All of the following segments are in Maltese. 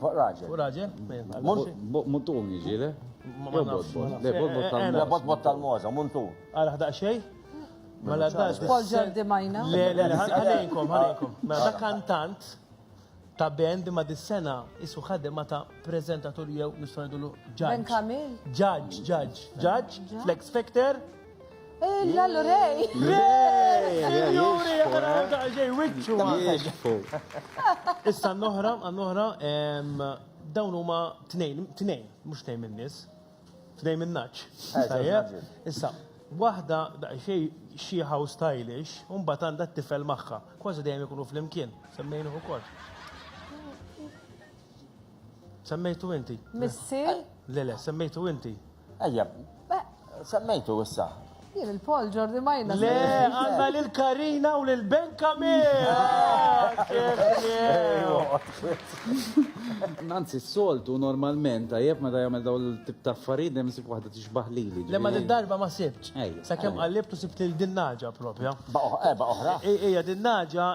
Fuq raġel. Fuq raġel? Muntun jiġi, le? Le, botbot tal-moza. Le, botbot tal-moza, muntun. Għara ħdaq xej? Mela dan. Paul Jordi Majna. Le, le, le, ħalejkom, ħalejkom. Mela da kantant ta' band ma dis-sena isu ħadema ta' prezentatur jew nistgħu ngħidulu ġaġġ. Ben Kamil. Ġaġġ, ġaġġ, ġaġġ, Flex Factor. Lallu rej! Juri, għaraw ta' ġej, wicċu Issa n-noħra, n-noħra, dawn huma tnejn, tnejn, mux tnejn minn nis, tnejn minn naċ. Eh, Issa, wahda da' xej xieħa u stylish, un bat għanda t-tifel maħħa, kważi dejjem ikunu fl-imkien, semmejnu u kol. Semmejtu inti. Missier? Le, le, semmejtu inti. Ejja, semmejtu issa. Jien il-Paul Jordi Majna. Le, għanna l-Karina u l-Benka Nanzi, s-soltu normalment, għajab ma da jgħamil daw l-tip ta' affarijiet, nemsib wahda xbaħ lili. Le ma din darba ma sibtx. Sa kemm qallibt u sibt lil din naġa propja. Eba oħra. Ija din naġa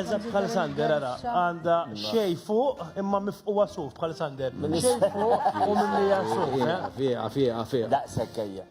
eżatt bħal Sander ara għandha xej fuq imma mifquwa suf bħal Sander. Xej fuq u mimlija suf. Fiqa fiqa fiqa. Daqshekk ejja.